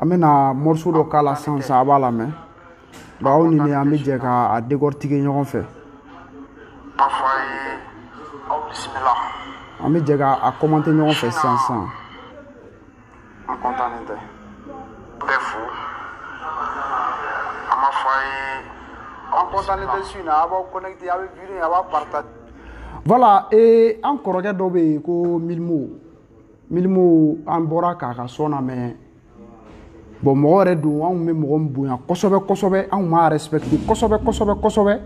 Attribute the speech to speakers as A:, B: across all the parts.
A: an bɛna mɔriso dɔ k'a la sisan sisan a b'a lamɛn ba aw ni ne an bɛ jɛ ka a dekɔritike ɲɔgɔn fɛ K'a fɔ a ye aw bisimila. an bɛ jɛ ka a kɔmante ɲɔgɔn fɛ sisan sisan N kɔntannen tɛ. Bɛɛ fo. An b'a fɔ a ye aw kɔntannen tɛ su in na a b'aw connecté a bɛ video in a b'a partage. voilà ee an kɔrɔkɛ dɔ bɛ yen ko milimo milimo an bɔra k'a ka sɔn lamɛn bon mɔgɔ yɛrɛ don anw bɛ mɔgɔ min bonya kosɛbɛ kosɛbɛ anw b'a respecte kosɛbɛ kosɛbɛ kosɛbɛ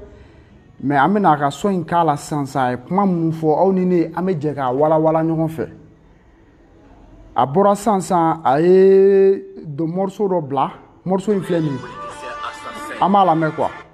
A: mɛ an bɛna a ka sɔn in k'a la sisan sisan a ye kuma minnu fɔ aw ni ne an bɛ jɛ k'a walawala ɲɔgɔn fɛ a bɔra sisan sisan a ye dɔ mɔriso dɔ bila mɔriso in filɛ nin ye an b'a lamɛn kuwa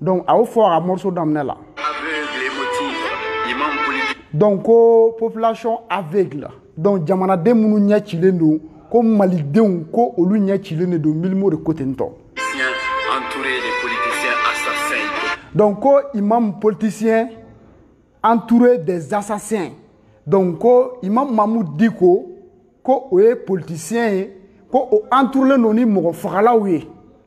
A: donc a y'o fɔ a ka morceau daminɛ la donc ko population aveugle donc jamanaden minnu ɲɛ cilen don ko malidenw ko olu ɲɛ cilen de don milimo de ko ten tɔ donc ko imam politicien entouré des assassins donc ko imam mahmoud dicko ko o ye politicien ye ko o entourulen don ni mɔgɔ fagalaw ye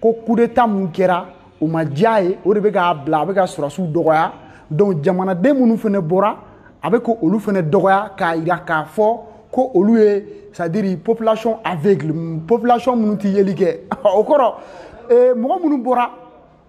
A: ko kudeta min kɛra o ma diy'a ye o de bɛ k'a bila a bɛ ka sɔrɔdasiw dɔgɔya donc jamanaden minnu fana bɔra a bɛ ka olu fana dɔgɔya k'a jira k'a fɔ ko olu ye c'est à dire population aveugle population minnu tɛ yeli kɛ o kɔrɔ mɔgɔ minnu bɔra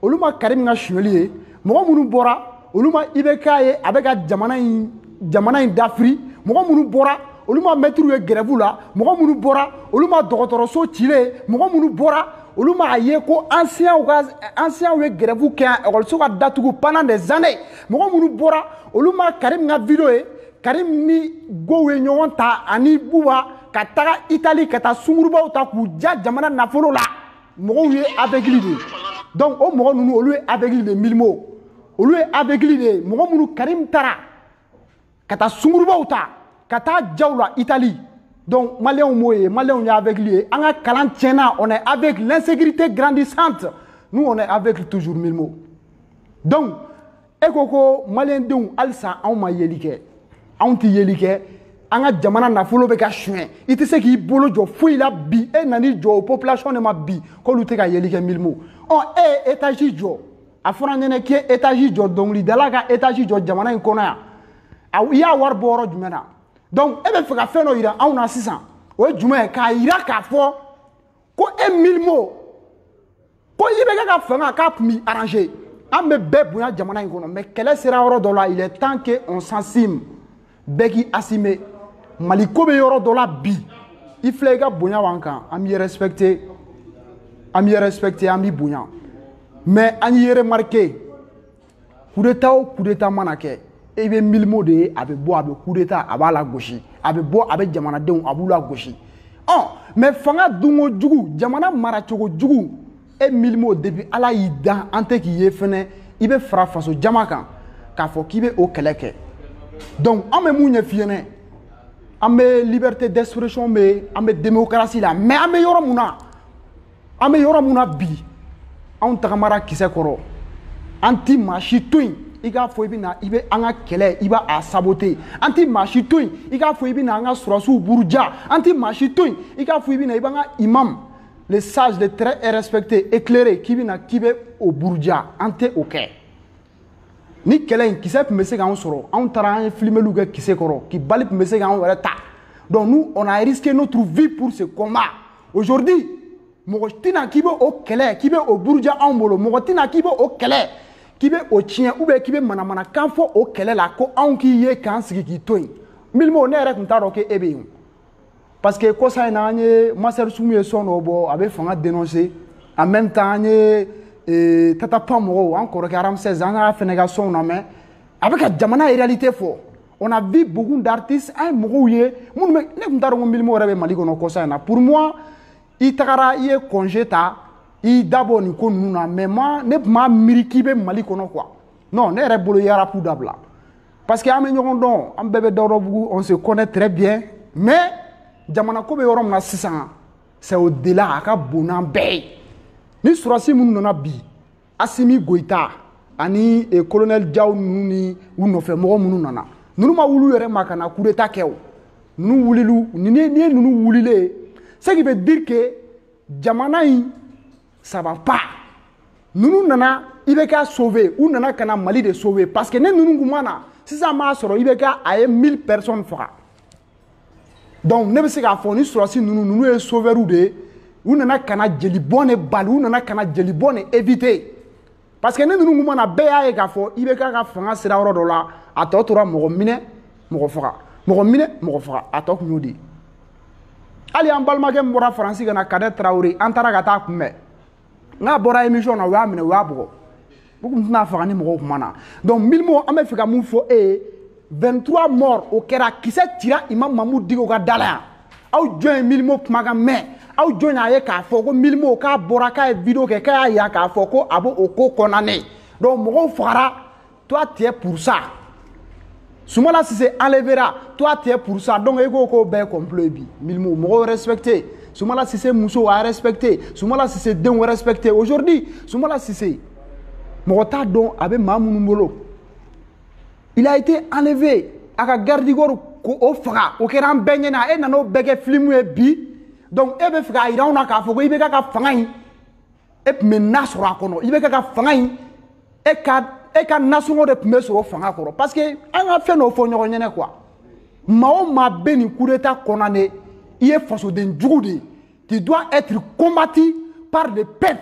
A: olu ma karim ka suɲɛli ye mɔgɔ minnu bɔra olu ma ibk ye a bɛ ka jamana in jamana in dafiri mɔgɔ minnu bɔra olu ma mɛtiriw ye gɛrɛbu la mɔgɔ minnu bɔra olu ma dɔgɔtɔrɔso cilen ye mɔgɔ minnu bɔra olu m'a ye ko ansɛɲanw ka ansɛɲanw ye gɛrɛbu kɛ yan ekɔliso ka datugu pendant des années mɔgɔ minnu bɔra olu ma karim ka video ye karim ni gow ye ɲɔgɔn ta ani buba ka taga itali ka taa sungurubaw ta k'u ja jamana nafolo la mɔgɔw ye avɛgili de ye donc o mɔgɔ ninnu olu ye avɛgili de milimo olu ye avɛgili de ye mɔgɔ minnu karim taara ka taa sungurubaw ta ka taa jaw la itali donc maliyɛnw m'o ye maliyɛnw ye avɛgili ye an ka kalan tiɲɛna on est avec l'insécurité grandissante nous on est aveugle toujours milimo donc e ko ko maliyɛndenw halisa anw ma yeli kɛ anw tɛ yeli kɛ an ka jamana nafolo bɛ ka suɲɛ i tɛ se k'i bolo jɔ foyi la bi e nan'i jɔ o population de ma bi k'olu tɛ ka yeli kɛ milimo ɔ e ye etazi jɔ a fɔra n ɲɛ na k'i ye etazi jɔ dɔnkilidala ka etazi jɔ jamana in kɔnɔ yan a i y'a wari bɔ yɔrɔ jumɛn na donc e bɛ fɛ ka fɛn dɔ yira anw na sisan o ye jumɛn ye k'a yira k'a fɔ ko e milimo ko ibk ka fanga k'a tun b'i arranger an bɛ bɛɛ bonya jamana in kɔnɔ mais kɛlɛ sera yɔrɔ dɔ la il est temps que on s'assume bɛɛ k'i assumer mali ko bɛ yɔrɔ dɔ la bi i filɛ i ka bonya b'an kan an b'i respecter an b'i respecter an b'i bonya mais an y'i remarquer kudeta o kudeta mana kɛ i bɛ milimo de ye a bɛ bɔ a bɛ kudeta a b'a lagosi a bɛ bɔ a bɛ jamanadenw a b'u lagosi ɔ mais fanga dunko jugu jamana maracogo jugu e milimo depuis ala y'i dan an tɛ k'i ye fɛnɛ i bɛ fara faso jama kan k'a fɔ k'i bɛ o kɛlɛ kɛ donc an bɛ mun ɲɛf'i ɲɛnɛ an bɛ liberté d'expression bɛ an bɛ démocratie la mais an bɛ yɔrɔ mun na an bɛ yɔrɔ min na bi anw tagamara kisɛ kɔrɔ an ti maa si to yen i k'a fɔ i bɛ na i bɛ an ka kɛlɛ i b'a saboter an ti maa si to yen i k'a fɔ i bɛ na an ka sɔrasiw buruja an ti maa si to yen i k'a fɔ i bɛ na i b'an ka imam le sage le très respecté éclairé k'i bɛ na k'i bɛ o buruja an tɛ o kɛ nin kɛlɛ in kisɛ tun bɛ se k'an sɔrɔ anw taara an ye filimeliw kɛ kisɛ kɔrɔ ki bali tun bɛ se k'an yɛrɛ ta donc nous on a risqué notre vie pour ce combat aujourd'hui mɔgɔ tɛ na k'i bɛ o kɛlɛ k'i bɛ o buruja anw bolo mɔgɔ tɛ na k'i bɛ o kɛlɛ k'i bɛ o tiɲɛ ou bien k'i bɛ manamanakan fɔ o kɛlɛ la ko anw k'i ye k'an sigi k'i to yen milimo ne yɛrɛ tun t'a dɔn k'e bɛ yen parce que kɔsa in na an ye master soumy ye sɔn dɔ bɔ a bɛ fanga dénoncer en même temps an ye ee, tata pound mɔgɔw an kɔrɔkɛ ramsès an y'a fɛnɛ ka sɔnw lamɛn a bɛ ka jamana réalité fɔ on a vu beaucoup d'artistes an ye mɔgɔw ye minnu bɛ ne tun t'a dɔn ko milimo yɛrɛ bɛ mali kɔnɔ kɔsa in na pour moi i tagara i ye congé ta i da bɔ nin ko ninnu na mais ne tun m'a miiri k'i bɛ mali kɔnɔ quoi non ne yɛrɛ bolo i ye arapu dabila parce que an bɛ ɲɔgɔn dɔn an bɛɛ bɛ dawudabugu on se connaît très bien mais jamana ko bɛ yɔrɔ min na sisan c'est au delà a ka bon n'an bɛɛ ye nin sɔrasi minnu nana bi asimi goyita ani eh, colonel jaw ninnu ni u nɔfɛ mɔgɔ minnu nana ninnu ma wuli u yɛrɛ ma ka na coup d'état kɛ o ninnu wulili n'i ye ninnu wulilen ye ce qui veut dire que jamana in ça va pas ninnu nana ibk sauver u nana ka na mali de sauver parce que ni ninnu tun ma na sisan m'a sɔrɔ ibk a ye 1000 personnes faga donc ne bɛ se k'a fɔ nin sɔrasi ninnu ninnu ye sauveurs de ye u nana ka na jelibɔn de bali u nana ka na jelibɔn de éviter parce que ni ninnu tun ma na bɛɛ y'a ye k'a fɔ ibk ka fanga sera yɔrɔ dɔ la a tɔ tora mɔgɔ minɛ mɔgɔ faga mɔgɔ minɛ mɔgɔ faga a tɔ tun y'o de ye hali an balimakɛ min bɔra faransi ka na kadɛ tarawele an taara ka t'a kunbɛn n'a bɔra émission na u y'a minɛ u y'a bugɔ u tun tɛn'a faga ni mɔgɔw tun ma na donc milimo an bɛ fɛ ka mun fɔ e ye 23 morts o kɛra kisɛ cira imam mamudu diko ka da la yan aw jɔn ye milimo kumakan mɛn aw jɔn y'a ye k'a fɔ ko milimo k'a bɔra k'a ye video kɛ k'a y'a yira k'a fɔ ko a b'o o ko condamner donc mɔgɔw fagara toi tu es pour ça sumala sise enlevera toi tu es pour ça donc i k'o ko bɛɛ complot ye bi milimo mɔgɔw respecter sumala sise musow a respecter sumala sise denw respecter aujourd'hui sumala sise mɔgɔ t'a dɔn a bɛ maa minnu bolo il a été enlevé a ka garde corps k'o faga o kɛra an bɛɛ ɲɛna e nana o bɛɛ kɛ film ye bi donc e b'a fɛ k'a yira anw na k'a fɔ ko IBK ka fanga in e tun bɛ na sɔrɔ a kɔnɔ IBK ka fanga in e ka e ka nasɔngɔ de tun bɛ sɔrɔ fanga kɔrɔ parce que an ka fɛn dɔw fɔ ɲɔgɔn ɲɛnɛ quoi maa o maa bɛ nin coup d'état condamner i ye fasoden jugu de ye tu dois être combattu par le peuple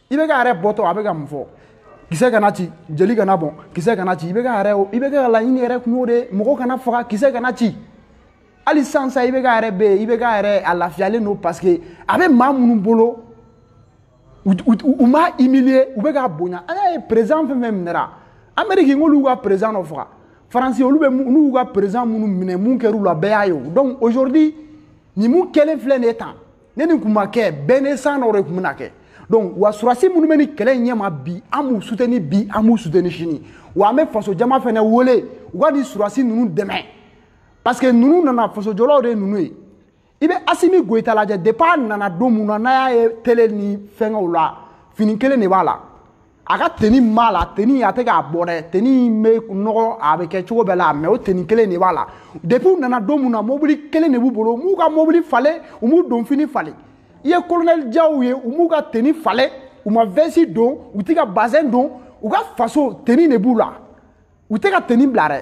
A: IBK yɛrɛ bɔtɔ a bɛ ka mun fɔ kisɛ kana ci jeli kana bɔn kisɛ kana ci IBK yɛrɛ IBK laɲini yɛrɛ kun y'o de ye mɔgɔ kana faga kisɛ kana ci hali sisan sa IBK yɛrɛ bɛ yen IBK yɛrɛ a lafiyalen don parce que a bɛ maa minnu bolo u m'a humilier u bɛ k'a bonya an y'a ye président fɛn fɛn minɛra amérique n'olu ka président dɔ faga faransi olu bɛ n'u y'u ka président minnu minɛ mun kɛr'u la bɛɛ y'a ye o donc aujourd'hui nin mun kɛlen filɛ nin ye tan ni nin kun ma kɛ bain de sang dɔ de kun bɛna kɛ donc wa surasi minnu bɛ nin kɛlɛ in ɲɛma bi an b'u suteni bi an b'u suteni sini wa an bɛ faso jama fana wele u ka nin surasi ninnu dɛmɛ parce que ninnu nana fasojɔlaw de ye ninnu ye i bɛ asimi goyita lajɛ depuis a nana don min na n'a y'a ye tele ni fɛnkɛw la fini kelen de b'a la a ka teni b'a la teni a tɛ k'a bɔ dɛ teni bɛ nɔgɔ a bɛ kɛ cogo bɛɛ la mais o teni kelen de b'a la depuis u nana don min na mobili kelen de b'u bolo u m'u ka mobili falen u m'u donfini falen i ye kolonɛli jaw ye u m'u ka teni falen u ma vɛsi don u tɛ ka bazɛn don u ka faso teni de b'u la u tɛ ka teni bila dɛ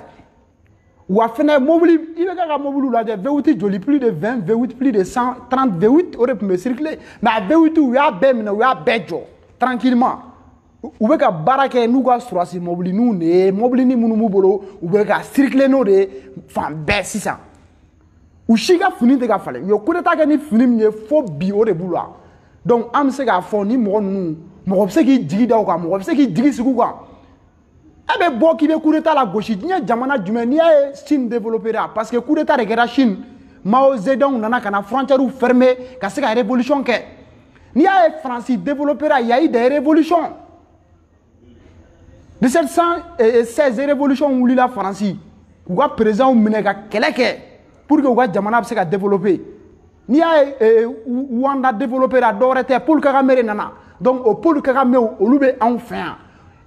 A: wa fɛnɛ mobili IBK ka mobiliw lajɛ V8 joli plus de 20 V8 plus de 130 V8 o de tun bɛ circuler mais a V8 u y'a bɛɛ minɛ u y'a bɛɛ jɔ tranquillement u bɛ ka baara kɛ n'u ka surasi mobilininw de ye mobilinin minnu b'u bolo u bɛ ka circuler n'o de ye fan bɛɛ sisan u si ka fini tɛ ka falen u ye coup d'état kɛ ni fini min ye fo bi o de b'u la donc an bɛ se k'a fɔ nin mɔgɔ ninnu mɔgɔ bɛ se k'i jigi da u kan mɔgɔ bɛ se k'i jigi sigi u kan e bɛ bɔ k'i bɛ coup d'état lagosi diɲɛ jamana jumɛn n'i y'a ye Chine développera parce que coup d'état de kɛra Chine Mao Zedong nana ka na frontières fermer ka se ka révolution kɛ n'i y'a ye France développera y a eu des révolutions 1716 révolution wulila France k'u ka présidents minɛ ka kɛlɛ kɛ pour que u ka jamana bɛ se ka développer n'i y'a ye eh, rwanda développera dɔwɛrɛ tɛ paul kagame de nana donc o paul kagamew olu bɛ anw fɛ yan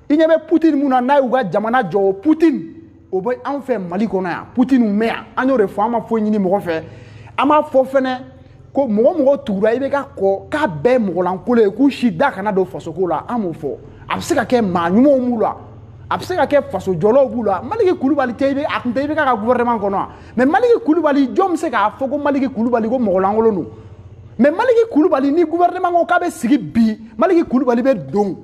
A: i ɲɛ bɛ putin min nana y'u ka jamana jɔ o putin o bɛ anw fɛ mali kɔnɔ yan putin bɛ yan an y'o de fɔ an ma foyi ɲini mɔgɔ fɛ an m'a fɔ fɛnɛ ko mɔgɔ o mɔgɔ tugura ibk kɔ k'a bɛɛ mɔgɔlankolo ye k'u si da kana don fasoko la an m'o fɔ a bɛ se ka kɛ maa ɲumanw b'u la a bɛ se ka kɛ faso jɔlaw b'u la maliki kulubali tɛ i bɛ a tun tɛ ibk ka gouvernement kɔnɔ wa mais maliki kulubali jɔn bɛ se k'a fɔ ko maliki kulubali ko mɔgɔlankolon don mais maliki kulubali ni gouvernement ko k'a bɛ sigi bi maliki kulubali bɛ don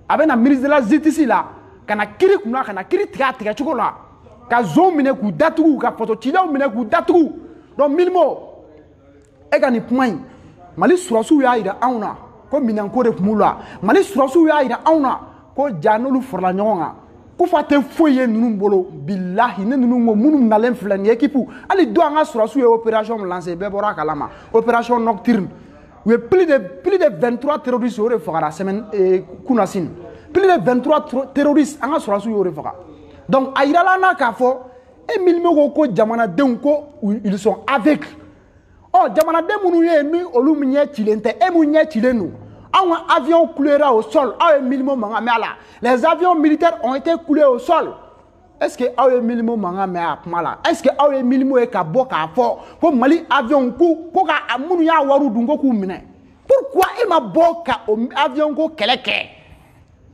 A: a bɛ na ministre de la justice la ka na kiri kunna ka na kiri tigɛ a tigɛ cogo la ka zon minɛ k'u datugu ka faso cilaw minɛ k'u datugu donc milimo e ka nin kuma in mali surasiw y'a yira anw na ko minɛnko de tun b'u la mali surasiw y'a yira anw na ko ja n'olu farala ɲɔgɔn kan kufa tɛ foyi ye ninnu bolo bilahi ne ninnu ko minnu nalen filɛ nin équipe hali don an ka surasiw ye opération min lancer bɛɛ bɔra a kalama opération nocturne u ye plus de plus de 23 terroristes o de fagara semaine eh, kunasini plus de 23 terroristes an ka surasiw y'o de faga donc a yirala an na k'a fɔ e milimo ko ko jamanadenw ko ils sont aveugles ɔ oh, jamanaden minnu ye ni olu ɲɛ cilen tɛ e mun ɲɛ cilen don anw ka avion clouera au sol aw ye milimo mankan mɛn a la les avions militaires ont été cloués au sol est ce que aw ye milimo mankan mɛn a kuma la est ce que aw ye milimo ye ka bɔ k'a fɔ ko mali avion ko ko minnu y'a wariw dun ko k'u minɛ pourquoi e ma bɔ ka o avion ko kɛlɛ kɛ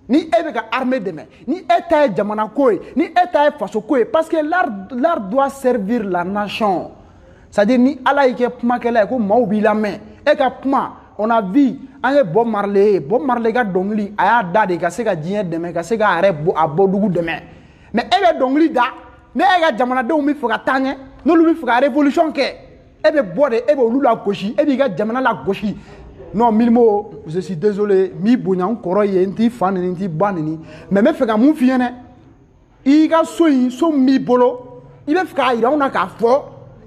A: ni e bɛ ka armée dɛmɛ ni e ta ye jamana ko ye ni e ta ye faso ko ye parce que l'art doit servir la nation c'est à dire ni ala y'i kɛ kumakɛla ye ko maaw b'i lamɛn e ka kuma on a vu an ye bob marley ye bob marley ka dɔnkili a y'a da de ka se ka diɲɛ dɛmɛ ka se k'a yɛrɛ bɔ a bɔdugu dɛmɛ mais e bɛ dɔnkili da ni e ka jamanadenw bɛ fɛ ka taa ɲɛ n'olu bɛ fɛ ka révolution kɛ e bɛ bɔ de e bɛ olu lagosi e b'i ka jamana lagosi non milimo je suis désolé n b'i bonya n kɔrɔ ye n t'i fa nɛni n t'i ba nɛni mais n bɛ fɛ ka mun f'i ɲɛna i ka so in so min b'i bolo i bɛ fɛ k'a yira anw na k'a fɔ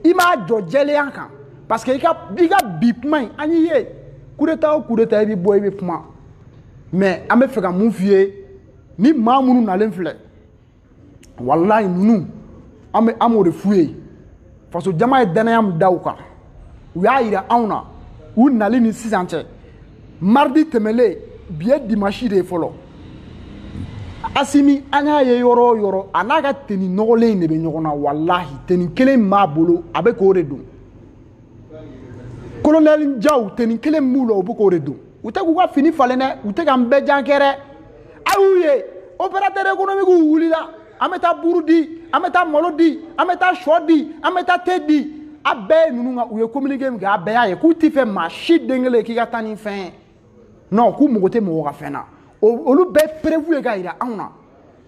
A: i m'a jɔ jɛlenya kan parce que i ka i ka bi kuma in an y'i ye coup d'état o coup d'état i bɛ bɔ i bɛ kuma mais an bɛ fɛ ka mun f'i ye ni maa minnu nalen filɛ walayi ninnu an bɛ an b'o de f'u ye faso jama ye dannaya min da u kan u y'a yira anw na u nali ni sisan cɛ mardi tɛmɛlen bi ye dimansi de ye fɔlɔ asimi an y'a ye yɔrɔ o yɔrɔ a n'a ka teni nɔgɔlen in de bɛ ɲɔgɔn na walahi teni kelen min b'a bolo a bɛ k'o de don kolonɛli jaw teni kelen min b'u la o bɛ k'o de don u tɛ k'u ka fini falen dɛ u tɛ k'an bɛɛ jankɛ dɛ a y'u ye opérateur économiquew wulila an bɛ taa buru di an bɛ taa malo di an bɛ taa shɔ di an bɛ taa te di a bɛɛ ye ninnu ka u ye communiqué min kɛ a bɛɛ y'a ye k'u t'a fɛ maa si den kelen k'i ka taa ni fɛn ye non k'u mago tɛ mɔgɔ ka fɛn na olu bɛɛ preuve ye ka jira anw na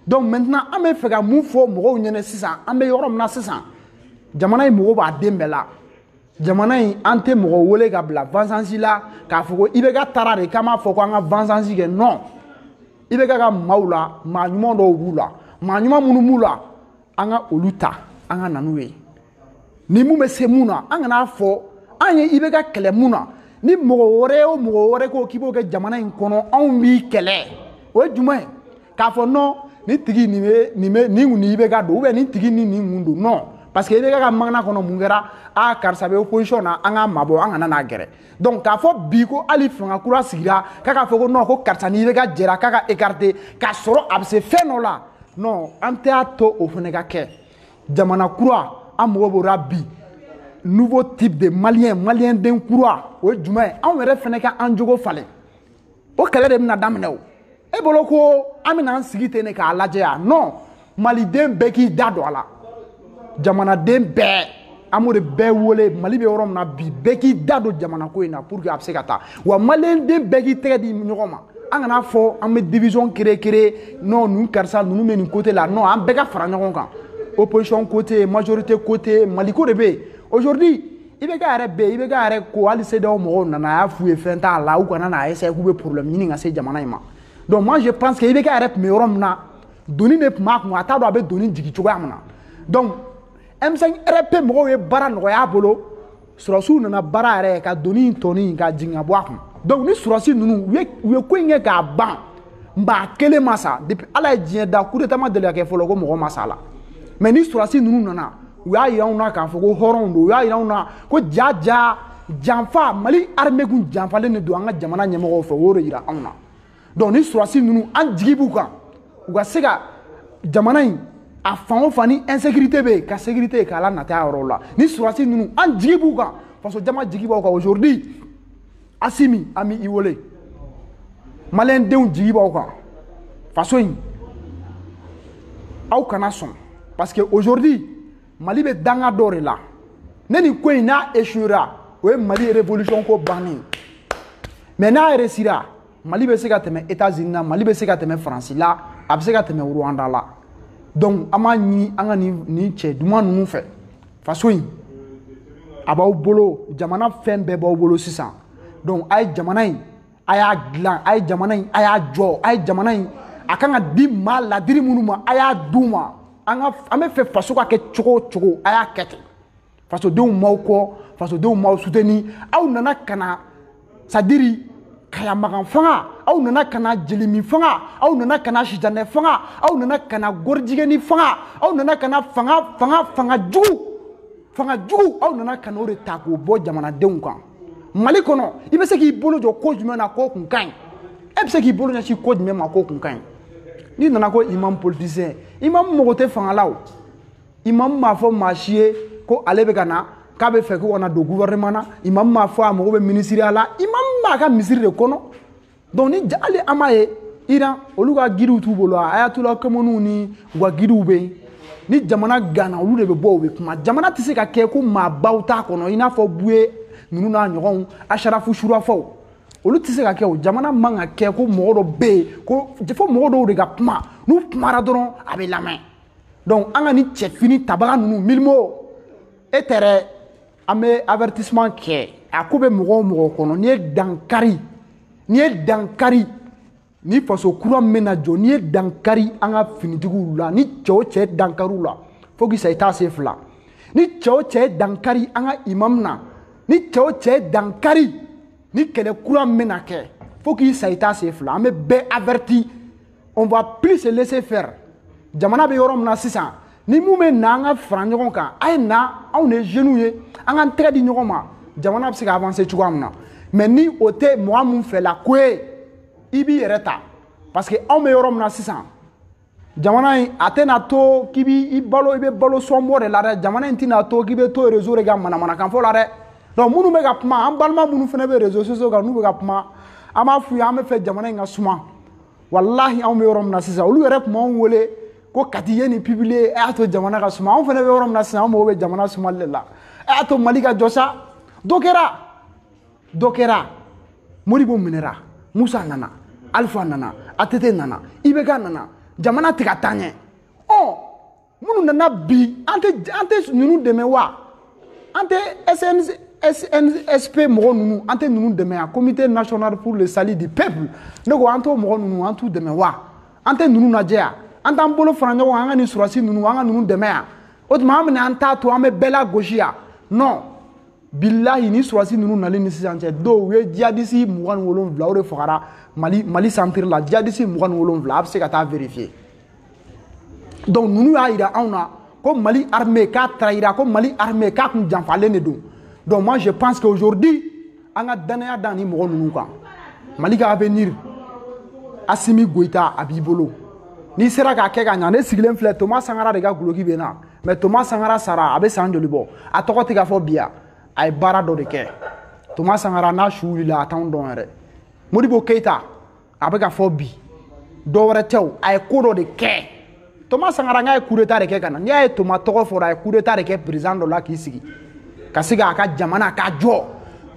A: donc maintenant an bɛ fɛ ka mun fɔ mɔgɔw ɲɛna sisan an bɛ yɔrɔ min na sisan jamana in mago b'a den bɛɛ la jamana in an tɛ mɔgɔ wele ka bila vengeance la k'a fɔ ko IBK taara de k'an b'a fɔ ko an ka vengeance kɛ non IBK ka maaw la maa ɲuman dɔw b'u la maa ɲuman minnu b'u la an ka olu ta an ka na n'u ye ni min bɛ se min na an kan'a fɔ an ye IBK kɛlɛ min na ni mɔgɔ wɛrɛ o mɔgɔ wɛrɛ ko k'i b'o kɛ jamana in kɔnɔ anw b'i kɛlɛ o ye jumɛn ye k'a fɔ non ni tigi nin bɛ nin bɛ nin kun ni IBK don ou bien nin tigi ni nin kun don non parce que IBK magana kɔnɔ mun kɛra a karisa bɛ opposition na an k'a mabɔ an kana n'a gɛrɛ donc k'a fɔ bi ko hali fanga kura sigira k'a k'a fɔ ko non ko karisa ni IBK jɛra k'a ka écarter k'a sɔrɔ a bɛ se fɛn dɔ la non an t'a to o fana ka kɛ jamana kura an mago b'o la bi nouveau type de malien maliyɛnden kura o ye jumɛn ye anw yɛrɛ fana ka an jogo falen o kɛlɛ de bɛna daminɛ o e bolo ko an bɛna an sigi ten de k'a lajɛ yan non maliden bɛɛ k'i da don a la jamanaden bɛɛ an b'o de bɛɛ wele mali bɛ yɔrɔ min na bi bɛɛ k'i da don jamana ko in na pour que a bɛ se ka taa wa maliyɛnden bɛɛ k'i tɛgɛ di ɲɔgɔn ma an kan'a fɔ an bɛ division créer créer non ninnu karisa ninnu bɛ nin côté la non an bɛɛ ka fara ɲɔgɔn kan opposition ko tɛ yen majorité ko tɛ yen maliko de bɛ yen aujourd'hui IBK yɛrɛ bɛ IBK yɛrɛ ko hali CEDEAO mɔgɔw nana a y'a f'u ye fɛn t'a la u kana n'a essayer k'u bɛ problème ɲini ka se jamana in ma donc moi je pense que IBK yɛrɛ tun bɛ yɔrɔ min na doni de tun b'a kun a t'a dɔn a bɛ doni jigin cogoya min na donc M5 RFP mɔgɔw ye baara nɔgɔya a bolo surasiw nana baara yɛrɛ ka doni in tɔni ka jigin ka bɔ a kun donc ni surasi ninnu u ye u ye ko in kɛ k'a ban maa kelen ma sa depuis ala ye diɲɛ da coup d'état ma deli ka kɛ fɔlɔ ko mɔgɔ ma sa a la mais ni surasi ninnu nana u y'a jira anw na k'a fɔ ko hɔrɔnw don u y'a jira anw na ko ja ja janfa mali armée kun janfalen de don an ka jamana ɲɛmɔgɔw fɛ u y'o de jira anw na donc ni surasi ninnu an jigi b'u kan u ka se ka jamana in a fan o fan ni insécurité bɛ yen ka sécurité k'a la nata yɔrɔw la ni surasi ninnu an jigi b'u kan faso jama jigi b'aw kan aujourd'hui asimi an bɛ i wele maliyɛndenw jigi b'aw kan faso in aw kana sɔn parce que aujourd'hui mali bɛ dankan dɔ de la ne nin ko in n'a échouera o ye mali révolution ko bannen mais n'a réussira mali bɛ se ka tɛmɛ états-unis la mali bɛ se ka tɛmɛ faransi la a bɛ se ka tɛmɛ rwanda la donc an b'a ɲini an ka nin nin cɛ duman ninnu fɛ faso in a b'aw bolo jamana fɛn bɛɛ b'aw bolo sisan donc a ye jamana in a y'a dilan a ye jamana in a y'a jɔ a ye jamana in a kan ka di maa ladiri minnu ma a y'a d'u ma an ka an bɛ fɛ faso ka kɛ cogo o cogo a y'a kɛ ten fasodenw b'aw kɔ fasodenw b'aw soutenir aw nana ka na c'est-à-dire kaya magan fanga aw nana ka na jelimi fanga aw nana ka na sijanɛ fanga aw nana ka na gorijigɛni fanga aw nana ka na fanga fanga fanga jugu fanga jugu aw nana ka n'o de ta k'o bɔ jamanadenw kan mali kɔnɔ i bɛ se k'i bolo jɔ ko jumɛn na k'o kun ka ɲi e bɛ se k'i bolo ɲɛsin ko jumɛn ma k'o kun ka ɲi n'i nana ko imam politicien imam mago tɛ fanga la o imamu m'a fɔ maa si ye ko ale bɛ ka na k'a bɛ fɛ ko ka na don gouvernement na imamu m'a fɔ a mago bɛ minisiriya la imamu b'a ka misiri de kɔnɔ donc ni hali an b'a ye iran olu ka guidew b'u bolo a ayatula kɛmɛniw ni u ka guidew bɛ yen ni jamana ganna olu de bɛ bɔ u bɛ kuma jamana tɛ se ka kɛ ko maabaw t'a kɔnɔ i n'a fɔ buye ninnu n'a ɲɔgɔnw asharafu surafaw olu tɛ se ka kɛ o jamana man ka kɛ ko mɔgɔ dɔ bɛ yen ko fo mɔgɔ dɔw de ka kuma n'u kumara dɔrɔn a bɛ lamɛn donc an ka ni cɛfini tabaga ninnu milimo e tɛ dɛ an bɛ avertissement kɛ a ko bɛ mɔgɔ o mɔgɔ kɔnɔ n'i ye dankari n'i ye dankari ni faso kura min bɛna jɔ n'i ye dankari an ka finitigiw la ni cɛ o cɛ dankari u la fo k'i sa i t'a se fila ni cɛ o cɛ dankari an ka imam na ni cɛ o cɛ dankari ni kɛlɛ kura min bɛna kɛ fo k'i sa i t'a se fila an bɛ bɛɛ averti on va plus se laisser faire jamana bɛ yɔrɔ min na sisan ni mun bɛ na an ka fara ɲɔgɔn kan a ye na anw de jeunes ye an k'an tɛgɛ di ɲɔgɔn ma jamana bɛ se ka avancer cogoya min na mais ni o tɛ mɔgɔ min fɛla ko ye i b'i yɛrɛ ta parce que anw bɛ yɔrɔ min na sisan jamana in a tɛna to k'i b'i balo i bɛ balo sɔnbɔ de la dɛ jamana in tɛna to k'i bɛ to réseau de kan manamanakan fɔ la dɛ donc minnu bɛ ka kuma an balima minnu fana bɛ réseaux sociaux kan n'u bɛ ka kuma an b'a f'u ye an bɛ fɛ jamana in ka suma walahi anw bɛ yɔrɔ min na sisan olu yɛrɛ tun b'anw wele ko kati ye nin publier a y'a to jamana ka suma anw fana bɛ yɔrɔ min na sisan an mago bɛ jamana sumali de la a y'a to mali ka jɔ sa dɔ kɛra dɔ kɛra modibo minɛra musa nana alifa nana ATT nana IBK nana jamana tɛ ka taa ɲɛ ɔ minnu nana bi an tɛ an tɛ ninnu dɛmɛ wa an tɛ SNC CNSP mɔgɔ ninnu an tɛ ninnu dɛmɛ yan comité national pour le salut du peuple ne ko an t'o mɔgɔ ninnu an t'u dɛmɛ wa an tɛ ninnu lajɛ yan an t'an bolo fara ɲɔgɔn kan an ka nin surasi ninnu an ka ninnu dɛmɛ yan o tuma an bɛna an t'a to an bɛ bɛɛ lagosi yan non bilahi ni surasi ninnu nali ni sisan cɛ dɔw u ye jihadisi mugan ni wolonwula o de fagara mali mali centre la jihadisi mugan ni wolonwula a bɛ se ka taa vérifier donc ninnu y'a jira anw na ko mali armée k'a trahira ko mali armée k'a kun janfalen de don donc moi je pense que aujourd'hui an ka danaya da ni mɔgɔ ninnu kan mali ka avenir asimi goyita a b'i bolo n'i sera k'a kɛ ka ɲa ne sigilen filɛ toma sankara de ka dulɔki bɛ n na mais toma sankara sara a bɛ san joli bɔ a tɔgɔ tɛ ka fɔ bi wa a ye baara dɔ de kɛ toma sankara n'a su wulila a t'anw dɔn yɛrɛ modibo keyita a bɛ ka fɔ bi dɔ wɛrɛ tɛ o a ye ko dɔ de kɛ toma sankara n'a ye kudeta de kɛ ka na n'i y'a ye toma tɔgɔ fɔra a ye kudeta de kɛ président dɔ la k'i sigi ka se k'a ka jamana k'a jɔ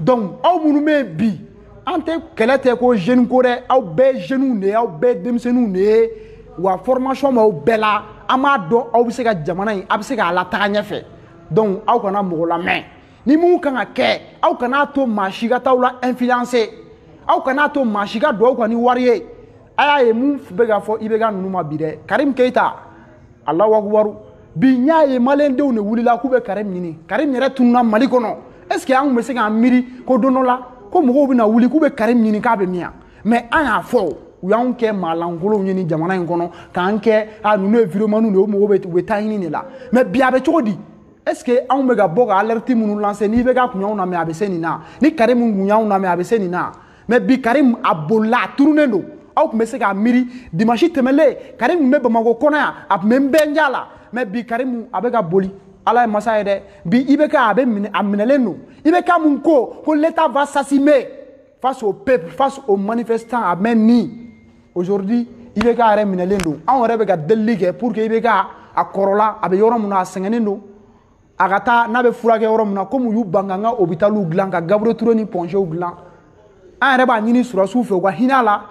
A: donc aw minnu bɛ yen bi an tɛ kɛlɛ tɛ ko jeune ko dɛ aw bɛɛ jeunes de ye aw bɛɛ denmisɛnninw de ye wa formation b'aw bɛɛ la an b'a dɔn aw bɛ se ka jamana in aw bɛ se k'a lataga ɲɛfɛ donc aw kana mɔgɔ lamɛn ni mun kan ka kɛ aw kana to maa si ka t'aw la influencer aw kana to maa si ka don aw kan ni wari ye a y'a ye mun bɛ ka fɔ ibk ninnu ma bi dɛ karim keyita alahu akubaru bi n y'a ye maliyɛndenw de wulila k'u bɛ karim ɲini karim yɛrɛ tununa mali kɔnɔ est ce que an tun bɛ se k'a miiri ko don dɔ la ko mɔgɔw bɛna wuli k'u bɛ karim ɲini k'a bɛ min yan mais an y'a fɔ o u y'anw kɛ maa lankolonw ye nin jamana in kɔnɔ k'an kɛ a ninnu ye vidéomanw de ye o mɔgɔw bɛ u bɛ ta ɲini de la mais bi a bɛ cogo di est ce que anw bɛ ka bɔ ka alerte minnu lancer ni ibk kun y'anw lamɛn a bɛ se nin na ni karim kun y'anw lamɛn a bɛ se nin na mais bi karim a bolila a tununen don aw tun bɛ se k'a miiri dimansi tɛmɛlen karim tun bɛ bamakɔ kɔnɔ yan a tun bɛ n bɛn ja la mais bi karim a bɛ ka boli ala ye masa ye dɛ bi ibk a bɛ minɛ a minɛlen don ibk min ko ko l'état va s'assumer face au peuple face aux manifestants ah mais ni aujourd'hui ibk yɛrɛ minɛlen don anw yɛrɛ bɛ ka delili kɛ pour que ibk a kɔrɔla a bɛ yɔrɔ min na a sɛgɛnnen don a ka taa n'a bɛ furakɛ yɔrɔ min na komi u y'u ban k'an ka hopitaliw dilan ka gabriel ture ni point gw dilan an yɛrɛ b'a ɲini surasiw fɛ u ka hinɛ a la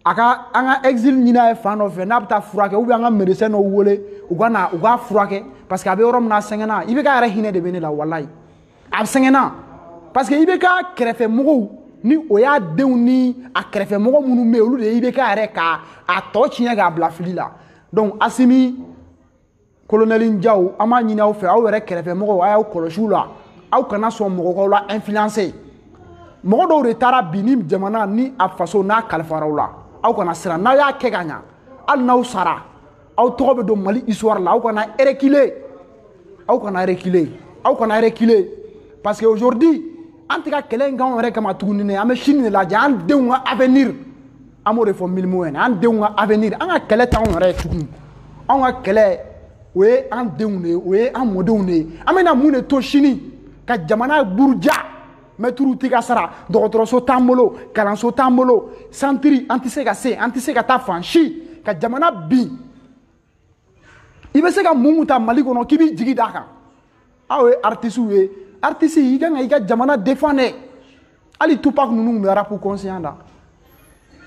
A: a ka an ka exil ɲini a ye fan dɔ fɛ n'a bɛ taa furakɛ ou bien an ka médecin dɔw wele u ka na u k'a furakɛ parce que a bɛ yɔrɔ min na a sɛgɛnna ibk yɛrɛ hinɛ de bɛ ne la walayi a bɛ sɛgɛnna parce que ibk kɛrɛfɛ mɔgɔw ni o y'a denw ni a kɛrɛfɛ mɔgɔ minnu bɛ yen olu de ye ibk yɛrɛ k'a tɔ tiɲɛ k'a bila fili la donc asimi kolonɛli jaw an b'a ɲini aw fɛ aw yɛrɛ kɛrɛfɛ mɔgɔw a y'aw kɔlɔsi u la aw kana sɔn mɔgɔ k'aw la influencer mɔgɔ dɔw de taara bi ni jamana ni a faso n'a kalifara aw la aw kana siran n'aw y'a kɛ ka ɲa hali n'aw sara aw tɔgɔ bɛ don mali histoire la aw kana reculer aw kana reculer aw kana reculer parce que aujourd'hui an tɛ ka kɛlɛ in k'anw yɛrɛ kama tuguni dɛ an bɛ sini de lajɛ an denw ka avenir an b'o de fɔ milimu ɲɛna an denw ka avenir an ka kɛlɛ t'anw yɛrɛ ye tuguni anw ka kɛlɛ o ye an denw de ye o ye an mɔdenw de ye an bɛna mun de to sini ka jamana buruja mɛtiriw tɛ ka sara dɔgɔtɔrɔso t'an bolo kalanso t'an bolo santiri an tɛ se ka se an tɛ se ka taa fan si ka jamana bin i bɛ se ka mun ta mali kɔnɔ k'i b'i jigi d'a kan aw ye artisiw ye artisi i kan ka i ka jamana defan dɛ hali tupac ninnu bɛ arapu kɔnsiyan da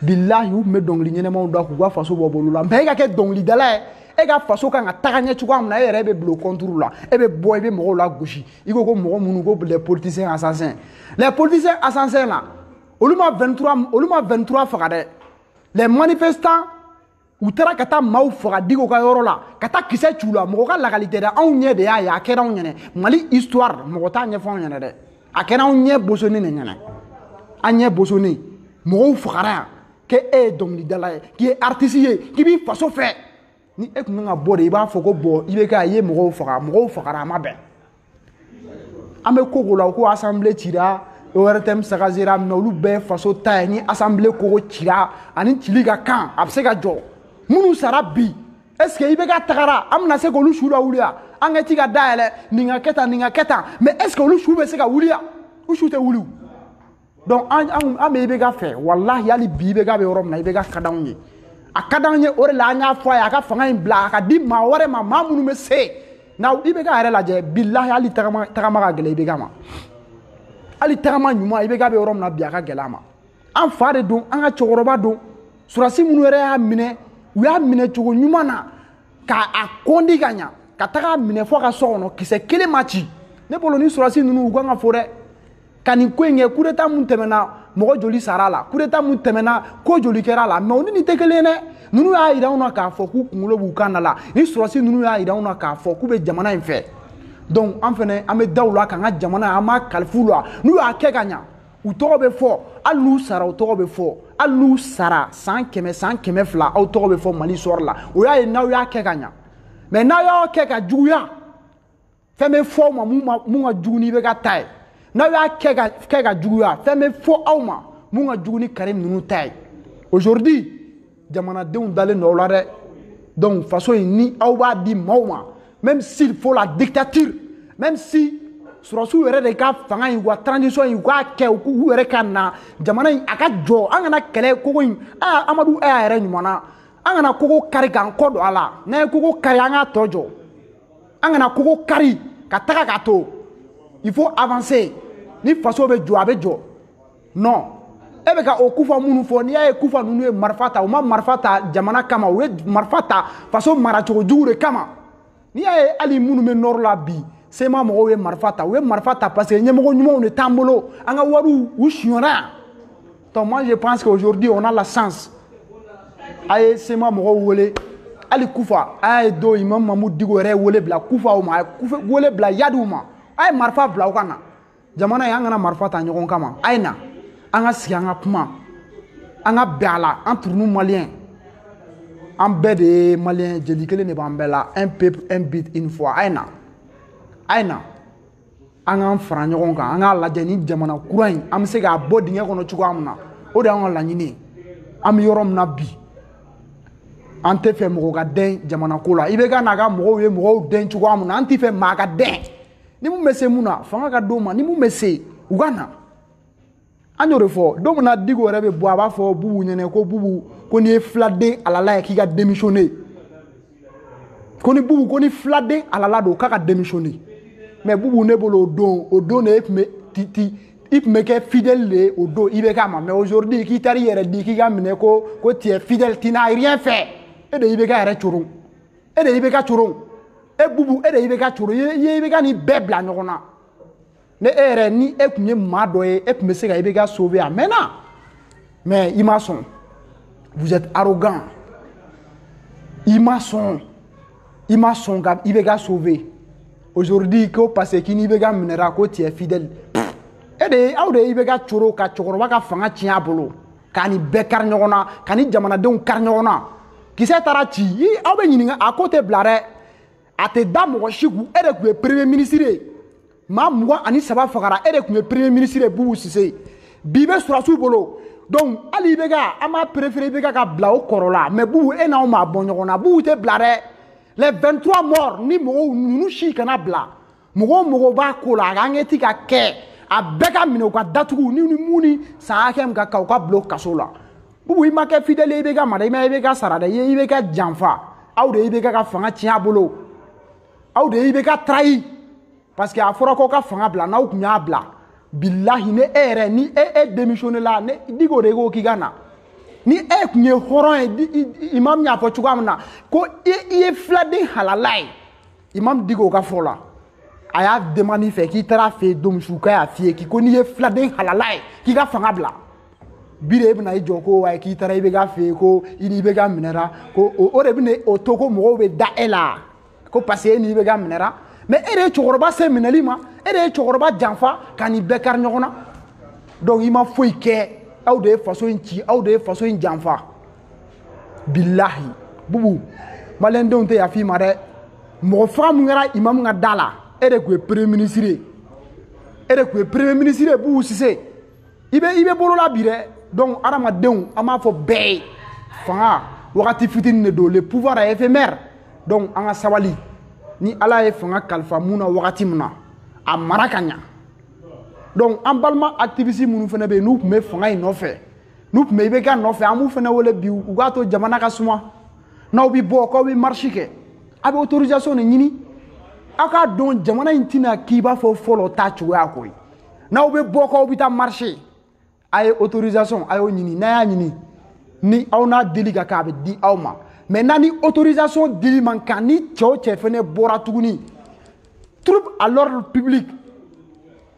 A: bilahi u tun bɛ dɔnkili ɲɛnɛmaw da k'u ka faso bɔ bolo la mɛ e ka kɛ dɔnkilidala ye e ka faso kan ka taga ɲɛ cogoya min na e yɛrɛ bɛ bila o kɔnturu la e bɛ bɔ i bɛ mɔgɔw lagosi i ko ko mɔgɔ minnu ko les politiciens assassins les politiciens assassins na olu ma olu ma 23 faga dɛ les manifestants u taara ka taa maaw faga diko ka yɔrɔ la ka taa kisɛ ci u la mɔgɔ ka lakali tɛ dɛ anw ɲɛ de y'a ye a kɛra anw ɲɛnɛ mali histoire mɔgɔ t'a ɲɛfɔ anw ɲɛnɛ dɛ a kɛra anw ɲɛ bosonni de ɲɛnɛ an ɲɛ bosonni mɔgɔw fagara yan k'e e ye dɔnkilidala ye k'i ye artisi ye k'i b'i faso fɛ ni e tun kan ka bɔ de i b'a fɔ ko bɔn IBK a ye mɔgɔw faga mɔgɔw fagara a ma bɛn an bɛ ko ko la ko asanbile cira ortm sagasera mɛ olu bɛɛ faso ta ye ni asanbile kogo cira a ni cili ka kan a bɛ se ka jɔ minnu sara bi est ce que IBK tagara an bɛna se k'olu su lawuliya ankɛti ka dayɛlɛ nin ka kɛ tan nin ka kɛ tan mɛ est ce que olu su bɛ se ka wuliya u su tɛ wuli donc an an bɛ IBK fɛ walahi hali bi IBK bɛ yɔrɔ min na IBK ka d'anw ye a ka d'an ye o de la an y'a fɔ a ye a ka fanga in bila a ka di maa wɛrɛ ma maa minnu bɛ se nka IBK yɛrɛ lajɛ bilahi hali tagama tagama ka gɛlɛn IBK ma hali tagama ɲuman IBK bɛ yɔrɔ min na bi a ka gɛlɛn a ma an fa de don an ka cɛkɔrɔba don surasi minnu yɛrɛ y'a minɛ u y'a minɛ cogo ɲuman na ka a kɔndi ka ɲa ka taga minɛ fo a ka so kɔnɔ kisɛ kelen ma ci ne bolo ni surasi ninnu u kan ka fo dɛ ka nin ko in kɛ kudeta mun tɛmɛna mɔgɔ joli sara a la kudeta mun tɛmɛna ko joli kɛra a la mɛ olu ni tɛ kelen dɛ ninnu y'a yira anw na k'a fɔ k'u kunkolo b'u kan da la ni sɔrɔsi ninnu y'a yira anw na k'a fɔ k'u bɛ jamana in fɛ donc an fɛnɛ an bɛ da u la k'an ka jamana an b'a kalifa u la n'u y'a kɛ ka ɲa u tɔgɔ bɛ fɔ hali n'u sara u tɔgɔ bɛ fɔ hali n'u sara san kɛmɛ san kɛmɛ fila aw tɔgɔ bɛ fɔ mali sɔrɔ la o y'a ye n'aw y'a kɛ ka ɲa mɛ n'aw y'a kɛ ka juguya fɛn bɛ fɔ aw ma mun ka jugu ni IBK ta ye n'aw y'a kɛ ka kɛ ka juguya fɛn bɛ fɔ aw ma mun ka jugu ni karim ninnu ta ye aujourd'hui jamanadenw dalen don aw la dɛ donc fanga in ni aw b'a di maaw ma même s'il faut la dictature même si surasiw yɛrɛ de ka fanga in wa transition in u k'a kɛ u k'u yɛrɛ ka na jamana in a ka jɔ an kana kɛlɛ kogo in a amadu a y'a yɛrɛ ɲuman na an kana kogo kari k'an kɔ don a la n'an ye kogo kari an k'a tɔ jɔ an kana kogo kari ka taga k'a to il faut avancer ni faso bɛ jɔ a bɛ jɔ non e bɛ ka o kufa minnu fɔ n'i y'a ye kufa ninnu ye marifa ta u ma marifa ta jamana kama u ye marifa ta faso maracogo jugu de kama n'i y'a ye hali minnu bɛ nord la bi CMA mɔgɔw ye marifa ta u ye marifa ta parce que ɲɛmɔgɔ ɲumanw de t'an bolo an ka wariw sonyara yan Donc moi je pense qu'aujourd'hui on a la chance. A ye CMA mɔgɔw wele. Hali Kufa Iyad o imam Mamudu Diko yɛrɛ wele bila Kufaw ma wele bila Iyadw ma. A ye marifa bila u ka na. Jamana in an kana marifa ta ɲɔgɔn kama. A ye na. An ka sigi an ka kuma. An ka bɛn a la entre nous maliens. An bɛɛ de ye malien jeli kelen de b'an bɛɛ la un peuple un but une foi a ye na a ye na an k'an fara ɲɔgɔn kan an k'a lajɛ nin jamana kura in an bɛ se k'a bɔ dingɛ kɔnɔ cogoya min na o de y'an ka laɲini ye an bɛ yɔrɔ min na bi an tɛ fɛ mɔgɔ ka dɛn jamana ko la IBK n'a ka mɔgɔw ye mɔgɔw dɛn cogoya min na an tɛ fɛ maa ka dɛn ni min bɛ se min na fanga ka d'o ma ni min bɛ se u ka na an y'o de fɔ don min na diko yɛrɛ bɛ bɔ a b'a fɔ bubu ɲɛ na ko bubu ko n'i ye filaden halala ye k'i ka démissionner ko ni bubu ko ni filaden halala don k'a ka démissionner mais bubu ne bolo o don o don de e tun bɛ ti ti i tun bɛ kɛ fidèle de ye o don IBK ma mais aujourd'hui k'i taara i yɛrɛ di k'i ka minɛ ko ko tu es fidèle tu n'as rien fait e de IBK yɛrɛ coron e de IBK coron e bubu e de IBK coron i ye IBK ni bɛɛ bila ɲɔgɔn na ne e yɛrɛ ni e tun ye maa dɔ ye e tun bɛ se ka IBK sauver a mɛnna mais i ma sɔn vous êtes arrogant i ma sɔn i ma sɔn ka IBK sauver aujourd'hui ko parce que k'i ni IBK minɛra ko tu es fidèle e de ye aw de ye IBK coron ka cɛkɔrɔba ka fanga tiɲɛ a bolo k'a ni bɛɛ kari ɲɔgɔn na k'a ni jamanadenw kari ɲɔgɔn na kisɛ taara ci i aw bɛ ɲininka a ko tɛ bila dɛ a tɛ da mɔgɔ si kun e de tun ye premier ministre ye maa mugan ani saba fagara e de tun ye premier ministre ye bubu sise bi bɛ sɔrɔdasiw bolo donc hali IBK an b'a préférer IBK ka bila o kɔrɔ la mais bubu e n'anw ma bɔ ɲɔgɔn na bubu tɛ bila dɛ les 23 morts ni mɔgɔw ninnu si kana bila mɔgɔ o mɔgɔ b'a ko la a ka enquête ka kɛ a bɛɛ ka minɛ u ka datugu ni ni mun ni san hakɛ min ka kan u ka bila o kaso la bubu i ma kɛ fidèle ye IBK ma dɛ i ma IBK sara dɛ IBK janfa aw de IBK fanga tiɲɛ a bolo aw de IBK trahir parce que a fɔra ko ka fanga bila n'aw tun y'a bila bilahi ni e yɛrɛ ni e e démissionné la ni diko de ko k'i ka na ni e tun ye hɔrɔn ye imam y'a fɔ cogoya min na ko i ye filaden halala ye imamu diko ka fɔ la a y'a demande i fɛ k'i taara a fɛ yen don min su k'a y'a f'i ye k'i ko n'i ye filaden halala ye k'i ka fanga bila bi de e bɛna i jɔ ko ayi k'i taara IBK fɛ yen ko i ni IBK minɛra ko o de bɛna o to ko mɔgɔw bɛ da e la ko parce que e ni IBK minɛra mais e de ye cɛkɔrɔba se minɛli ma e de ye cɛkɔrɔba janfa ka nin bɛɛ kari ɲɔgɔn na donc i ma foyi kɛ aw de ye faso in ci aw de ye faso in janfa bilahi bubu maliyɛndenw tɛ yafa i ma dɛ mɔgɔ faga min kɛra imamu ka da la e de tun ye premier ministre ye e de tun ye premier ministre ye bubu sise i bɛ i bɛ bolola bi dɛ donc adamadenw an b'a fɔ bɛɛ ye fanga wagati fitini de don le pouvoir est éphémère donc an ka sabali ni ala ye fanga kalifa min na wagati min na a mara ka ɲa donc an balima activiste minnu fana bɛ yen n'u tun bɛ fanga in nɔfɛ n'u tun bɛ IBK nɔfɛ an b'u fana wele bi u k'a to jamana ka suma n'aw bɛ bɔ k'aw bɛ marche kɛ a bɛ autorisation de ɲini aw k'a dɔn jamana in tɛna k'i b'a fɔ fɔlɔ ta cogoya ko ye n'aw bɛ bɔ k'aw bɛ taa marcher a ye autorisation a y'o ɲini n'a y'a ɲini ni aw n'a dili ka kan a bɛ di aw ma mais n'a ni autorisation dili man kan ni cɛ o cɛ fana bɔra tuguni trouble à l'ordre public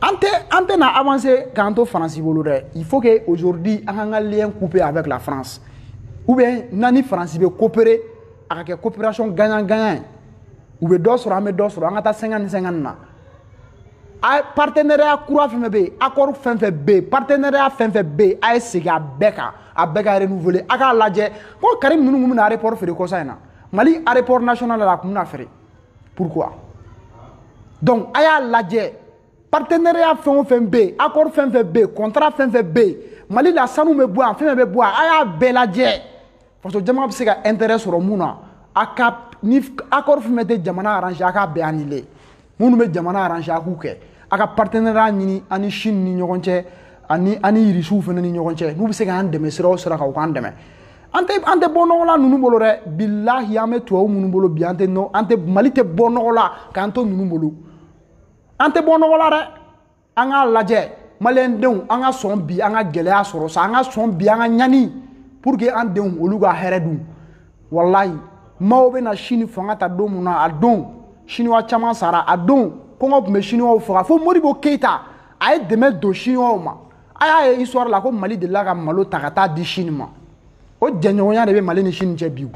A: an tɛ an tɛna avancer k'an to faransi bolo dɛ il faut que aujourd'hui an k'an ka lien couper avec la france ou bien n'an ni faransi bɛ coopérer a ka kɛ coopération gagnant gagnant ye u bɛ dɔ sɔrɔ an bɛ dɔ sɔrɔ an ka taa sɛŋa ni sɛŋa na a partenariat kura fɛn fɛn bɛ yen accord fɛn fɛn bɛ yen partenariat fɛn fɛn bɛ yen a ye segin a bɛɛ kan a bɛɛ ka renouveler a k'a lajɛ ko karim ninnu tun bɛna aéroport feere kɔsa in na mali aéroport national la a tun bɛna feere pourquoi donc a y'a lajɛ partenariat fɛn o fɛn bɛ yen accord fɛn fɛn bɛ yen contrat fɛn fɛn bɛ yen mali la sanu bɛ bɔ yan fɛn fɛn bɛ bɔ yan a y'a bɛɛ lajɛ faso jama bɛ se ka intérêt sɔrɔ min na a ka ni accord fɛn fɛn tɛ jamana arrange a k'a bɛɛ annuler minnu bɛ jamana arrange a k'u kɛ a ka partenariat ɲini an ni Chine ni ɲɔgɔn cɛ ani ani irisiw fana ni ɲɔgɔn cɛ n'u bɛ se k'an dɛmɛ sira o sira kan u k'an dɛmɛ an tɛ an tɛ bɔ nɔgɔ la ninnu bolo dɛ bilahi an bɛ tubabu minnu bolo bi an tɛ nɔ an tɛ mali tɛ bɔ nɔgɔ la k'an to ninnu bolo an tɛ bɔ nɔgɔ la dɛ an k'a lajɛ maliyɛndenw an ka sɔn bi an ka gɛlɛya sɔrɔ sa an ka sɔn bi an ka ɲani pour que an denw olu ka hɛrɛ dun walayi mao bɛna sini fanga ta don min na a don siniwa caman sara a don kɔngɔ tun bɛ siniwaw faga fo modibo keyita a ye dɛmɛ don siniwaw ma a y'a ye histoire la ko mali delila ka malo ta ka taa di chine ma o jɛɲɔgɔnya de bɛ mali ni chine cɛ bi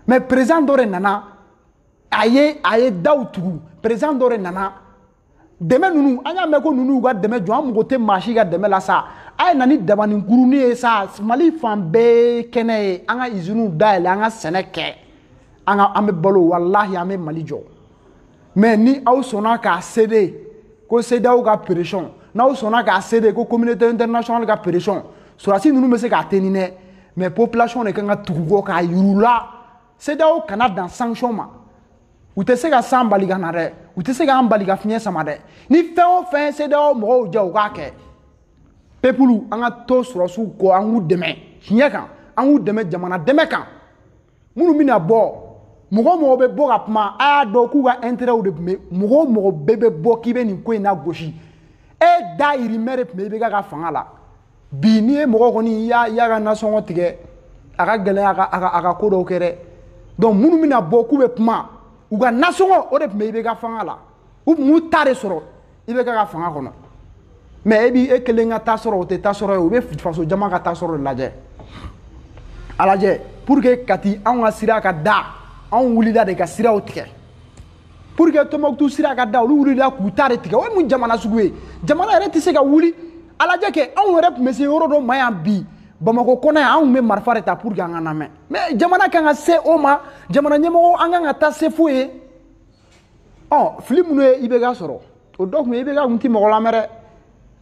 A: mais président dɔ de nana a ye a ye daw tugu président dɔ de nana dɛmɛ ninnu an y'a mɛn ko ninnu y'u ka dɛmɛ jɔ an mago tɛ maa si ka dɛmɛ la sa a ye na ni dabani kuruni ye sa mali fan bɛɛ ye kɛnɛ ye an ka iziniw dayɛlɛ an ka sɛnɛ kɛ an ka an bɛ balo walahi an bɛ mali jɔ mais ni aw sɔnna k'a céder ko CEDEAO ka pression n'aw sɔnna k'a céder ko communauté internationale ka pression sɔrɔdasi ninnu bɛ se k'a tenir dɛ mais population de kan ka tugu u kɔ k'a yira u la CEDEAO kana dan sanction ma u tɛ se ka san bali ka na dɛ u tɛ se k'an bali ka fiɲɛ sama dɛ ni fɛn o fɛn CEDEAO mɔgɔw jɛ u k'a kɛ peuple an ka to sɔrɔdasiw kɔ an k'u dɛmɛ tiɲɛ kan an k'u dɛmɛ jamana dɛmɛ kan minnu bɛna bɔ mɔgɔ o mɔgɔ bɛ bɔ ka kuma a y'a dɔn k'u ka intérêt de tun bɛ mɔgɔ o mɔgɔ bɛɛ bɛ bɔ k'i bɛ nin ko in nagosi e dayirimɛ de tun bɛ IBK ka fanga la bi n'i ye mɔgɔ kɔni i y'a i y'a ka nasɔngɔ tigɛ a ka gɛlɛn a ka a ka a ka ko dɔw kɛ dɛ donc minnu bɛna bɔ k'u bɛ kuma u ka nasɔngɔ o de tun bɛ IBK fanga la u tun b'u ta de sɔrɔ. IBK ka fanga kɔnɔ mais e b'i e kelen ka ta sɔrɔ o tɛ ta sɔrɔ ye o bɛ faso jama ka ta sɔrɔ de lajɛ a lajɛ pour que kati anw ka sira ka da anw wulila de ka siraw tigɛ pour que tɔnbɔkutu sira ka da olu wulila k'u ta de tigɛ o ye mun jamana sugu ye jamana yɛrɛ tɛ se ka wuli a lajɛ kɛ anw yɛrɛ tun bɛ se yɔrɔ dɔ ma yan bi bamakɔ kɔnɔ yan anw bɛ marifa de ta pour que an ka lamɛn mais jamana kan ka se o ma jamana ɲɛmɔgɔ an kan ka taa se fo yen ɔ fili minnu ye IBK sɔrɔ o dɔ tun ye IBK kun ti mɔgɔ lamɛn dɛ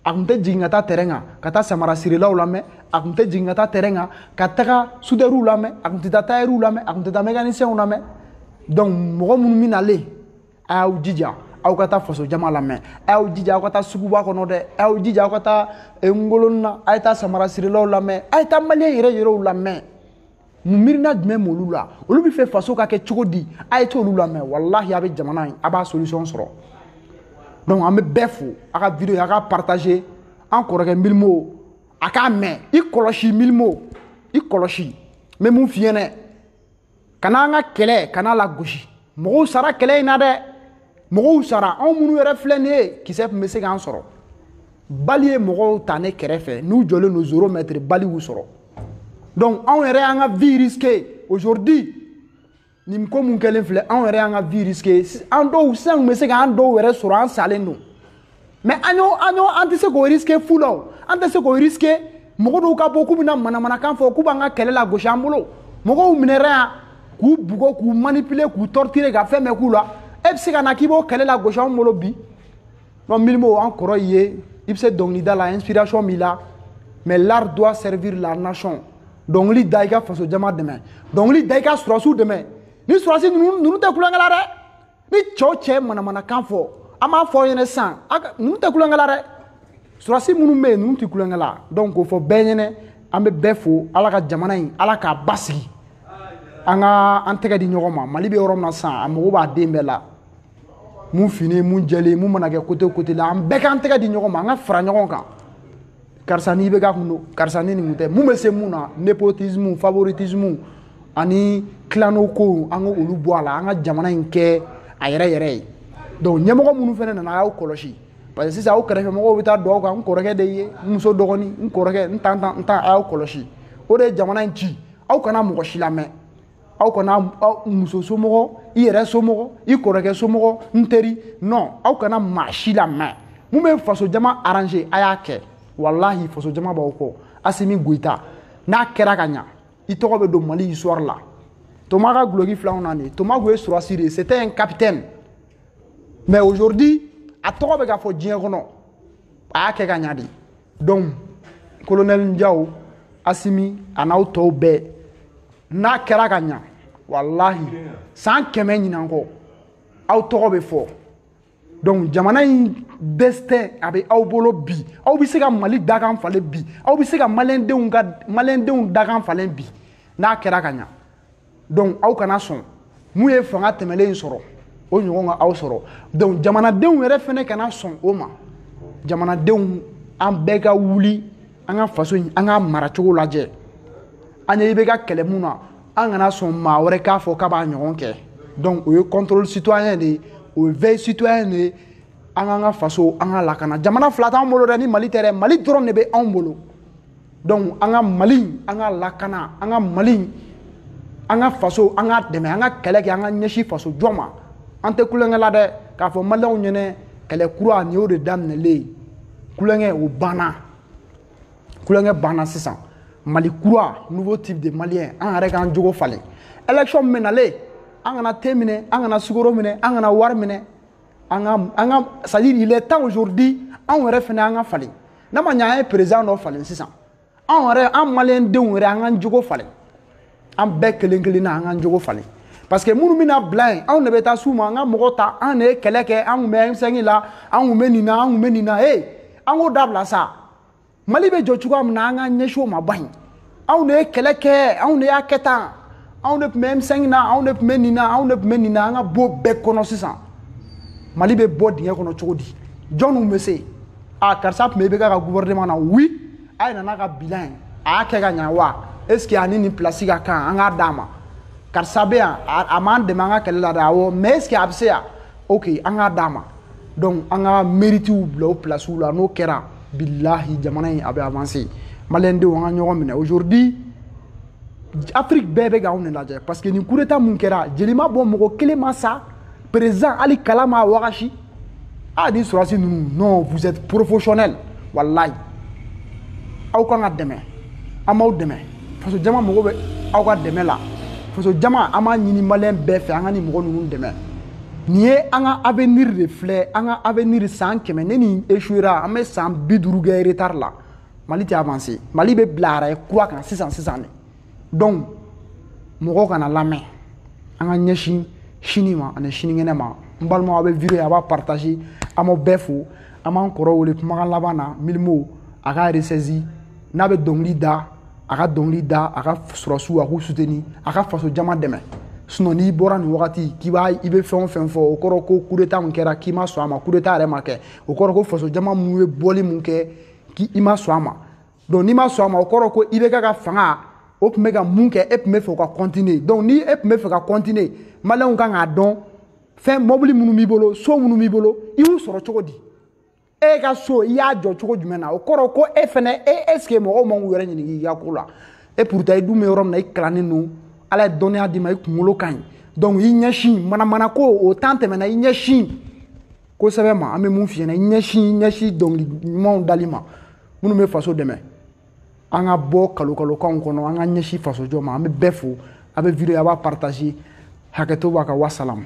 A: a tun tɛ jigin ka taa terrain kan ka taa samara sirilaw lamɛn a tun tɛ jigin ka taa terrain kan ka taga sudɛriw lamɛn a tun tɛ taa tayɛriw lamɛn a tun tɛ taa mɛkanisɛnw lamɛn donc mɔgɔ minnu bɛ nalen a y'aw jija aw ka taa faso jama lamɛn a y'aw jija aw ka taa suguba kɔnɔ dɛ a y'aw jija aw ka taa ngolonina a ye taa samara sirilaw lamɛn a ye taa maliyɛn yɛrɛ yɛrɛw lamɛn mun miirina jumɛn b'olu la olu bɛ fɛ faso ka kɛ cogo di a ye t'olu lamɛn walahi a bɛ jamana in a b'a solution sɔrɔ donc an bɛ bɛɛ fo a ka video a ka partager an kɔrɔkɛ mylmo a k'a mɛn i kɔlɔsi mylmo i kɔlɔsi n bɛ min f'i ɲɛna kan'an ka kɛlɛ kan'a lagosi mɔgɔw sara kɛlɛ in na dɛ mɔgɔw sara anw minnu yɛrɛ filɛ nin ye kisɛ tun bɛ se k'an sɔrɔ balle ye mɔgɔw ta ne kɛrɛfɛ n'u jɔlen don zéro mètre balle y'u sɔrɔ donc anw yɛrɛ y'an ka vie risqué aujourd'hui nin ko min kɛlen filɛ anw yɛrɛ y'an ka vie risqué an dɔw sisan kun bɛ se k'an dɔw yɛrɛ sɔrɔ an salen don mais an y'o an y'o an tɛ se k'o risqué fu la o an tɛ se k'o risqué mɔgɔ dɔw ka bɔ k'u bɛna manamanakan fɔ k'u b'an ka kɛlɛ lagosi an bolo mɔgɔw minɛra yan k'u bugɔ k'u manipuler k'u torturer ka fɛn bɛɛ k'u la e bɛ se ka na k'i b'o kɛlɛ lagosi anw bolo bi non milimo an kɔrɔ ye i bɛ se dɔnkilida la inspiration b'i la mais l'art doit servir la nation dɔnkili da i ka faso jama dɛmɛ dɔnkili da i ka surasiw dɛmɛ ni surasi ninnu ninnu tɛ kulonkɛ la dɛ ni cɛw tɛ manamanakan fɔ an b'a fɔ aw ɲɛna sisan ninnu tɛ kulonkɛ la dɛ surasi minnu bɛ yen ninnu tɛ kulonkɛ la donc k'o fɔ bɛɛ ɲɛna an bɛ bɛɛ fo ala ka jamana in ala k'a basigi an ka an tɛgɛ di ɲɔgɔn ma mali bɛ yɔrɔ min na sisan a mago b'a den bɛɛ la mun fini mun jɛlen mun mana kɛ kote kote la an bɛɛ k'an tɛgɛ di ɲɔgɔn ma an ka fara ɲɔgɔn kan karisa n'i bɛ ka kun don karisa ni nin kun tɛ mun bɛ se mun na nepotisme favoritisme ani tilano kow an ka olu bɔ a la an ka jamana in kɛ a yɛrɛ yɛrɛ ye donc ɲɛmɔgɔ minnu fana nana a y'aw kɔlɔsi parce que sisan aw kɛrɛfɛ mɔgɔw bɛ taa don aw kan n kɔrɔkɛ de ye n muso dɔgɔnin n kɔrɔkɛ n tonton n tante a y'aw kɔlɔsi o de ye jamana in ci aw kana mɔgɔ si lamɛn aw kana muso somɔgɔ i yɛrɛ somɔgɔ i kɔrɔkɛ somɔgɔ n teri non aw kana maa si lamɛn mun bɛ faso jama arranger a y'a kɛ walahi faso jama b'aw kɔ asimi goyita n'a kɛra ka ɲa i tɔgɔ bɛ don mali histoire la toma ka guloki filɛ n na nin toma kun ye surasi de ye c'était un capitaine mais aujourd'hui a tɔgɔ bɛ ka fɔ diɲɛ kɔnɔ a y'a kɛ ka ɲa dɛ donc kolonɛli jaw asimi a n'aw tɔw bɛɛ n'a kɛra ka ɲa walahi san kɛmɛ ɲinan kɔ aw tɔgɔ bɛ fɔ donc jamana in destin a bɛ aw bolo bi aw bɛ se ka mali dakan falen bi aw bɛ se ka maliyɛndenw ka maliyɛndenw dakan falen bi n'a kɛra ka ɲa donc aw kana sɔn mun ye fanga tɛmɛlen in sɔrɔ o ɲɔgɔn ka aw sɔrɔ donc jamanadenw yɛrɛ fɛnɛ kana sɔn o ma jamanadenw an bɛɛ ka wuli an ka faso in an k'a mara cogo lajɛ an ye IBK kɛlɛ mun na an kana sɔn maa wɛrɛ k'a fɔ k'a b'a ɲɔgɔn kɛ donc o ye contrôle citoyen de ye o ye veille citoyen de ye an k'an ka faso an k'a lakana jamana fila t'an bolo dɛ ni mali tɛ dɛ mali dɔrɔn de bɛ anw bolo donc an ka mali an k'a lakana an ka mali an ka faso an k'a dɛmɛ an ka kɛlɛ kɛ an ka ɲɛsin faso jɔ ma an tɛ kulonkɛ la dɛ k'a fɔ maliyɛnw ɲɛnɛ kɛlɛ kura nin y'o de daminɛlen ye kulonkɛ o banna kulonkɛ banna sisan mali kura nouveau type de malien an yɛrɛ k'an jogo falen élection min bɛ nalen an kana te minɛ an kana sukoro minɛ an kana wari minɛ an ka an ka c'est à dire il est temps aujourd'hui anw yɛrɛ fana an ka falen n'a ma ɲɛ an ye président dɔ falen sisan anw yɛrɛ an maliyɛn denw yɛrɛ an k'an jogo falen an bɛɛ kelen kelen na an k'an jogo falen parce que minnu bɛna bila yen anw de bɛ taa s'u ma an ka mɔgɔ ta an de ye kɛlɛ kɛ an tun bɛ M5 la an tun bɛ nin na an tun bɛ nin na ee an k'o dabila sa mali bɛ jɔ cogoya min na an k'an ɲɛsin o ma ban anw de ye kɛlɛ kɛ anw de y'a kɛ tan anw de tun bɛ m5 na anw de tun bɛ nin na anw de tun bɛ nin na an ka bɔ bɛɛ kɔnɔ sisan mali bɛ bɔ dingɛ kɔnɔ cogo di jɔnw bɛ se a karisa tun bɛ ibk ka gouvernement na oui a ye na n'a ka bilan ye a y'a kɛ ka ɲa wa est ce que a ni nin place ka kan an k'a d'a ma karisa bɛ yan a m'an dɛmɛ an ka kɛlɛ la dɛ awɔ mais est ce que a bɛ se yan ok an k'a d'a ma donc an ka meritiw bila o pilasiw la n'o kɛra bilahi jamana in a bɛ avanse maliyɛndenw an ka ɲɔgɔn minɛ aujourd'hui afiriki bɛɛ bɛ k'anw de lajɛ parce que nin kudeta mun kɛra jeli ma bɔ mɔgɔ kelen ma sa président hali kala m'a wagasi a ni sɔrɔdasi ninnu non vous êtes professionnel walayi aw kan ka dɛmɛ an b'aw dɛmɛ faso jama mago bɛ aw ka dɛmɛ la faso jama an b'a ɲini maliyɛn bɛɛ fɛ an ka nin mɔgɔ ninnu dɛmɛ nin ye an ka avenir de filɛ an ka avenir san kɛmɛ ni nin échouera an bɛ san bi duuru kɛ retard la mali tɛ avancer mali bɛ bila rail kura kan sisan sisan de donc mɔgɔw kana lamɛn an ka ɲɛsin sini ma ani sinikɛnɛ ma n balimaw aw bɛ video ye a b'a partager an b'aw bɛɛ fo an b'an kɔrɔ wele kumakan laban na mylmo a ka ressaisir n'a bɛ dɔnkili da a ka dɔnkili da a ka sɔrɔdasiw a k'u suteni a ka faso jama dɛmɛ sinon n'i bɔra nin wagati k'i b'a i bɛ fɛn o fɛn fɔ o kɔrɔ ko kudeta min kɛra k'i ma sɔn a ma kudeta yɛrɛ ma kɛ o kɔrɔ ko faso jama minnu ye bɔli min kɛ k'i ma sɔn a ma donc n'i ma sɔn a ma o kɔrɔ ko ibk ka fanga o tun bɛ ka mun kɛ e tun b'a fɛ o ka continuer donc ni e tun b'a fɛ ka continuer maliyɛnw kan k'a dɔn fɛn mɔbili minnu b'i bolo so minnu b'i bolo i y'u sɔrɔ cogo di e ka so i y'a jɔ cogo jumɛn na o kɔrɔ ko e fɛnɛ e est ce que mɔgɔw man k'u yɛrɛ ɲininka i ka ko la e pourtant i dun bɛ yɔrɔ min na i kalannen don ala ye dɔnniya d'i ma i kunkolo ka ɲi donc i ɲɛsin manamana ko o temps tɛmɛna i ɲɛsin ko sɛbɛ ma an bɛ mun f'i ɲɛna i ɲɛsin i ɲɛsin dɔnkili ɲumanw dali ma minnu bɛ faso dɛmɛ an ka bɔ kalokalokanw kɔnɔ an ka ɲɛsin fasojɔ ma an bɛ bɛɛ fo a bɛ video a b'a partager hakɛto b'a kan wasalamu